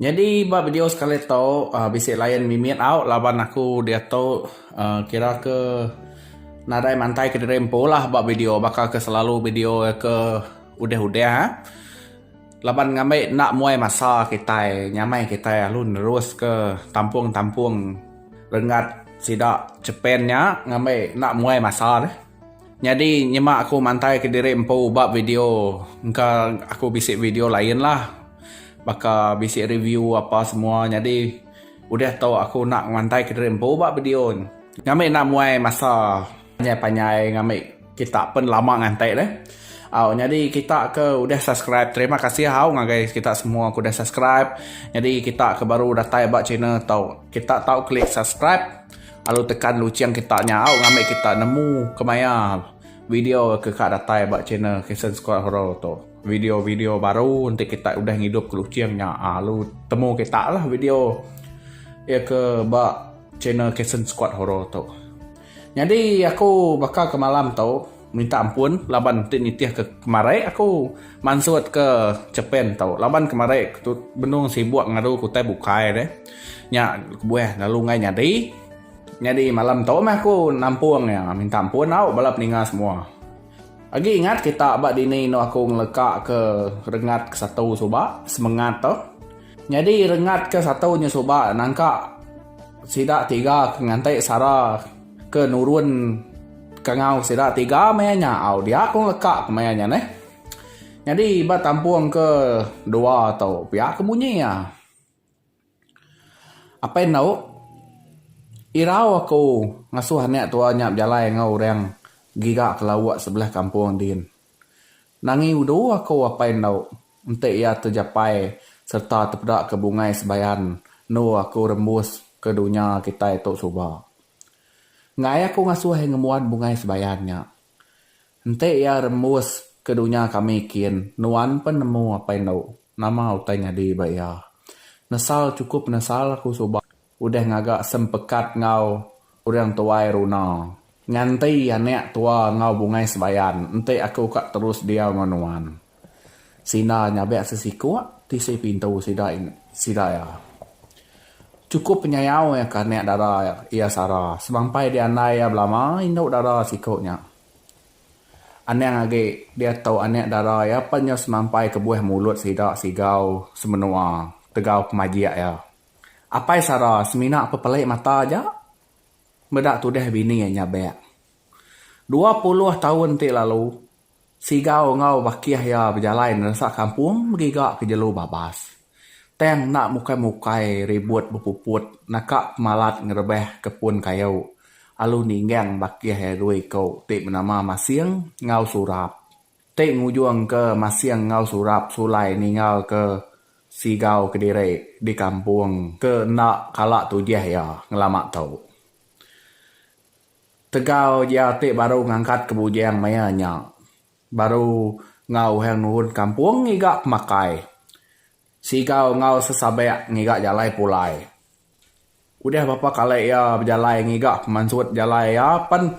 Nyadi ba video sekali tu bisi line mimit au laban aku diatu kira ke nadai mantai ke diri empu lah ba video baka ke selalu video ke udah udah laban ngambi enda muai masa kitai nyamai kitai lalu nerus ke tampung tampung renggat sida chepen nya ngambi enda muai masa deh. Nyadi nyema aku mantai ke diri empu ba video engka aku bisi video lain lah baka bisi review apa semua nyadi udah tu aku enda mantai ke diri empu ba video ngambika enda muai masa panjai-panjai ngambika kita pun lama nganti deh au nyadi kita ke udah subscribe terima kasih au ngagai kita semua ke udah subscribe nyadi kita ke baru datai ba channel tu kita tau klik subscribe. Alu tekan luching kita nyau ngambi kita nemu kemaya video ke ka datai ba channel Kason Squad Horror tu. Video video baru enti kita udah ngidup ke luching nya alu temu kita lah video iya ke ba channel Kason Squad Horror tu. Nyadi aku baka ke malam tu Minta ampun laban enti nitih ke kemari aku mansut ke Japan tu laban kemari aku benung sibuk ngaru ke utai bukai deh. Nya kebuah lalu enggai nyadi. Nyadi malam tu meh aku nampung iya minta ampun tau bala peninga semua. Agi ingat kita ba dini anu aku ngeleka ke rengat ke satu suba semengat tu. Nyadi rengat ke satu nya suba nangka sida tiga ke nganti sara. Ke nurun kangau sida tiga maya nya au dia ku leka ke maya nya neh. Nyadi ba tampung ke dua tu pia ke bunyi iya. Apai endo irau aku ngasuh anak tua nya bejalai enggau orang giga ke lauk sebelah kampung din. Nangi udu aku apai endo Enti iya tejapai sereta tepeda ke bungai sebayan endu aku rembus ke dunya kitai tu suba. Enggai aku ngasuh ngembuan bungai sebayan nya. Enti iya rembus ke dunya kami kin nuan pen nemu apai endu. Nama utai nyadi ba iya. Nesal chukup nesal aku suba. Udah ngaga sempekat enggau orang tuai Runa. Nganti anak tua enggau bungai sebayan, enti aku ka terus diau enggau nuan. Sina nyabak sesiku tisi pintu sida sida iya. Chukup penyayau iya ke anak dara iya Sara sebampai diandai iya belama indu dara siku nya. Anang agi diatu anak dara iya pan nyau semampai kebuah mulut sida sigau semenua tegau pemajik iya. Apai Sara semina pepelik mata aja meda tudah bini iya nyabek. Dua puluh taun ti lalu, Sigau enggau bakih iya bejalai neresa kampung begiga ke jelu babas. Tang enda mukai-mukai ribut bepuput naka pemalat ngerebah ke pun kayu alu ninggang bakih iya dua iku ti benama Masing enggau Surap. Ti ngujungka masing enggau Surap sulai ninggalka Sigau kediri di kampung ke enda kala tujih iya ngelama tu. Tegau iya ti baru ngangkatka bujing maya nya, baru enggau Uhang Nurun Kampung ngiga pemakai Sigau enggau sesabek ngiga jalai pulai. Udah bapa kali iya bejalai ngiga pemansut jalai iya pen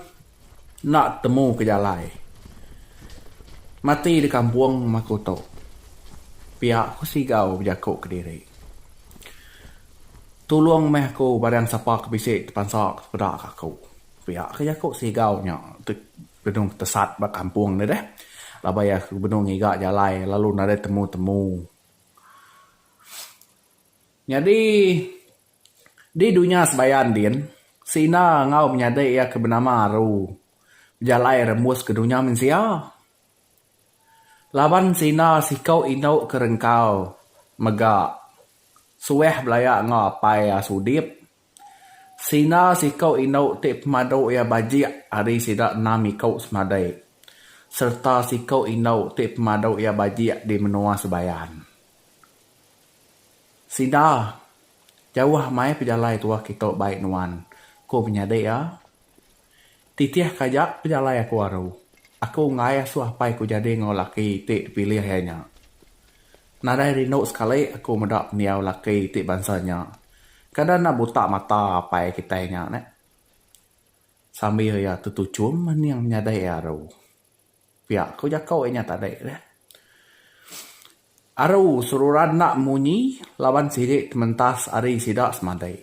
enda temu ke jalai. Mati di kampung uma ku tu. Pia ku Sigau bejaku kediri. Tulung meh aku barang sapa ke bisi tepansa ke sepeda ka aku. Pia ke jaku Sigau nya benung tesat ba kampung deh deh laban iya ke benung ngiga jalai lalu nadai temu temu. Nyadi di dunya sebayan din Sina enggau menyadi iya ke benama Aru bejalai rembus ke dunya mensia laban Sina siku indu ke rengkau mega suah belaya enggau apai Asudip. Sina siku indu ti pemadu iya bajik ari sida enam iku semadai sereta siku indu ti pemadu iya bajik di menua Sebayan. Sida, Jauh amai pejalai tuah kitu bai nuan, ku penyadi iya. Titih ka aja pejalai aku aru. Aku enggai asuh apai ku jadi enggau laki ti dipilih iya nya. Nadai rindu sekali aku meda pendiau laki ti bansa nya. Kada enda buta mata apai kitai nya neh, sambil iya tetuchum mening menyadi iya aru. Pia ko jako inya tadi leh. Aru seruran enda munyi laban sidi tementas ari sida semadi.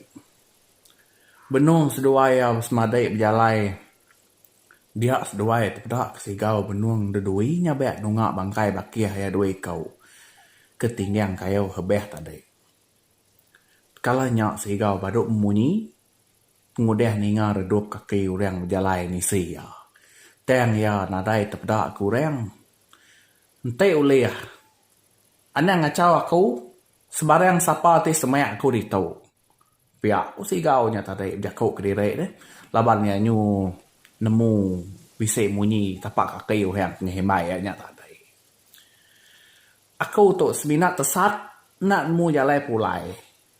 Benung seduai iya semadi bejalai dia seduai ti peda ke sigau benung dedui nyabek nunga bangkai bakih iya dua iku ke tinggang kayu hebeh tadi. Kala nya sigau badu munyi. pengudah ninga redup kaki orang bejalai nisi iya, tang iya nadai tepeda ke orang. Enti ulih, anang ngachau aku sebarang sapa ti semak aku ditu. Pia ku Sigau nya tadi bejaku kediri ne laban iya nyu nemu bisi munyi tapak kaki orang tengah imbai iya nya tadi. Aku tu semina tesat enda nemu jalai pulai.